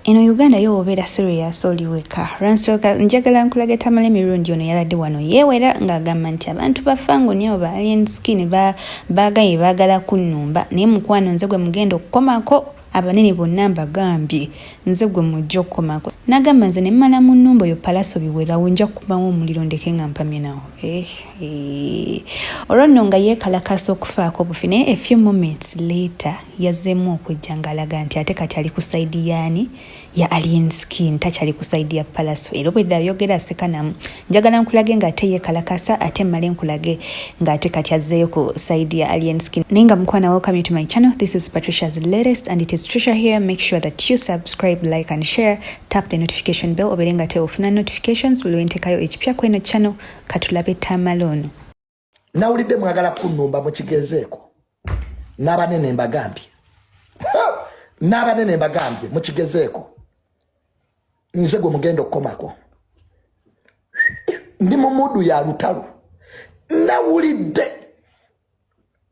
eno uganda yo obeera serious oli weka lwansooka njagala nkulaga tamala emirundi ono yabadde wano yeewera ng'agamba nti abantu bafango nyo ba alien skin baagaye baagala kunnumba naye mukwano nze gwe mugenda okukomako abanene bonna mbagambye nze gwe mujja okukomako nagamba nze nemmala mu nnumba oyo palaso biwerawo nja kukubamu omuliro ndeke nga mpamye nawo eh, eh. olwo nno nga yeekalakaasa okufaako obufi naye a few moments later yazzeemu okujja ng'alaga nti ate kati ali ku sayidi yaani ya alien skin takyali ku sayidi ya palaso era obwedde ayogera asekanamu njagala nkulage ng'ate yekalakasa ate mmale nkulage ng'ate kati azzeeyo ku sayidi ya alien skin naye nga mukwana welcome to my channel this is patricia's latest and it is trisha here make sure that you subscribe like and share tap the notification bell obeere nga teofuna notifications buli wentekayo ekipya kweno channel katulabe tamaloono nawulidde mwagala kunumba mukigenzeeko n'abanene mbagambye n'abanene mbagambye mukigezeeko nze gwe mugenda okukomako ndi mu mudu ya lutalo nawulidde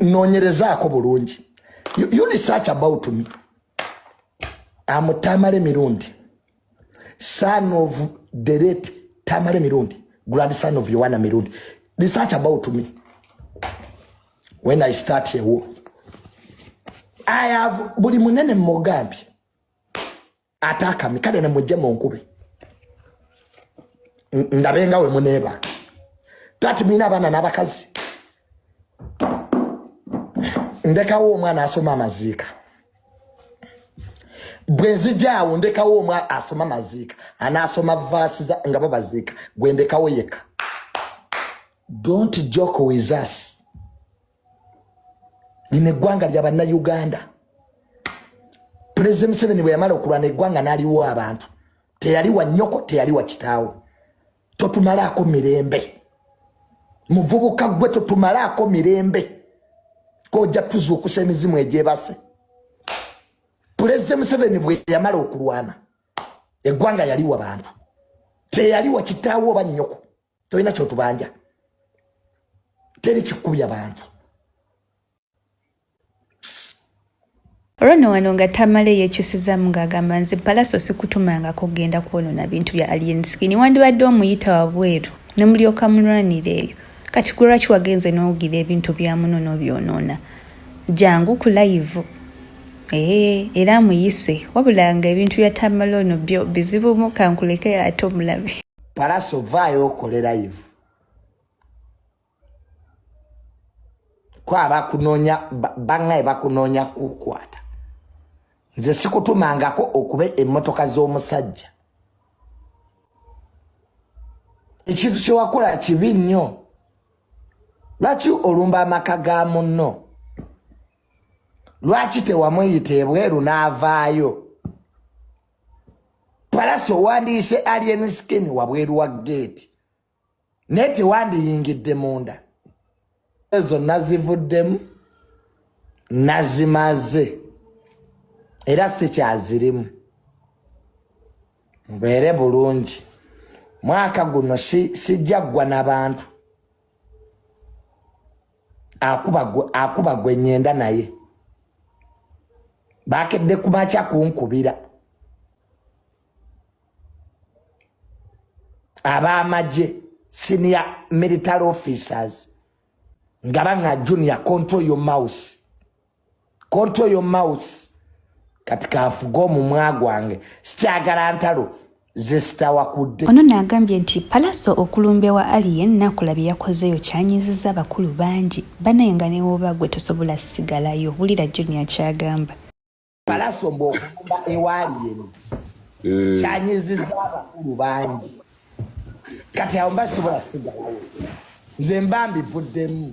nonyerezaako bulungi you research about me amutamale mirundi son of the late tamale mirundi grandson of yowana mirundi research about me when i start a war i have buli munene mugambye ate akami kale ne mujje mu nkube ndabe nga we muneeba tati mina abaana n'abakazi ndekawo omwana asoma amaziika bwe nzija awo ndekawo omwana asoma amaziika anaasoma vaasi nga babaziika gwe ndekawo yekka don't joke with us lino eggwanga lya bannayuganda pulezidenti museveni bwe yamala okulwana eggwanga n'aliwo abantu teyali wa nnyoko teyali wa kitaawo totumalaako mirembe muvubuka gwe totumalaako mirembe koja tuzuukusa emizimu egyebase pulezidenti museveni bwe yamala okulwana eggwanga yali wa bantu teyali wa kitaawo oba nnyoko tolina kyotubanja teri kikubya bantu olwono wano nga tamala eyekyusizamu ng'agamba nze palaso sikutumanga kugenda kwonona bintu bya alien skin wandibadde omuyita wabweru ne mulyoka mulwanira eyo kati kulwaki wagenze n'owugira ebintu bya muno n'obyonoona jangu ku layivu ee era amuyise wabulanga ebintu bya tamala ono byo bizibumu kankuleke ate omulabe palaso vaayo okole live kwaba kunonya bangaye bakunonya kukwata nze sikutumangako okuba emotoka z'omusajja ekintu kyewakola kibi nnyo lwaki olumba amaka ga munno lwaki tewamuyita ebweru n'avaayo palasi owandiise alien skin wabweru wa geeti naye tewandiyingidde munda ezo nazivuddemu nazimaze era sikyazirimu mubeere bulungi mwaka guno sijja ggwa nabantu akuba gwe nyenda naye bakedde kumakya kunkubira abamagye senior military officers nga banga junior control your mouse control your mouse kati kafuga omumwa gwange sikyagala ntalo zesitawakudde ono naagambye nti palaso okulumbe wa alien nakula bye yakozeeyo kyanyiziza abakulu bangi banaye nga newoba gwe tosobola sigalayo wulira junior kyagamba palaso mbu okulumba ewa alien eh. kyanyiziza abakulu bangi kati awo mba sobola sigalayo nze mba mbivuddemu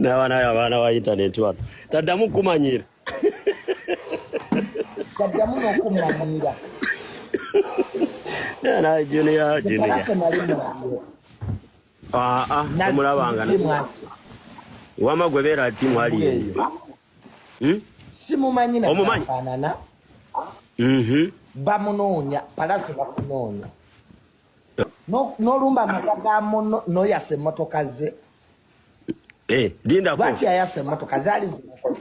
n'abaana yo abaana ba intaneti wano taddamu kukumanyiira taddamu n'okumanyiira naye juniya juniya aa omulabanga wama gwe beera ati mwali eyo hmm? simumanyi nafanana mhm. bamunoonya palasi bakunoonya n'olumba amaka ga muno n'oyasa emmotoka ze eh, lwaki yayasa emmotoka zaali zimukoze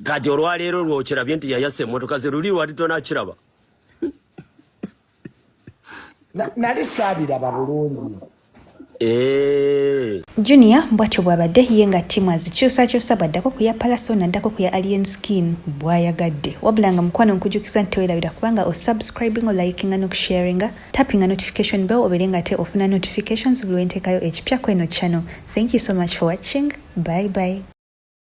kati olwaleero lwokirabye nti yayasa emmotoka ze luli lwali tonakiraba nali saabiraba bulungi eh. junior bwatyo bwabadde ye nga timu azikyusakyusa bwaddako ku ya palaso naddako ku ya alien skin bwayagadde wabula nga mukwano nkujukiza nti tewerabira kubanga osubscribing olikinga nokusharinga tappinga notification bell obeere nga te ofuna notifications buli wentekayo ekipya kweno channel thank you so much for watching bye bye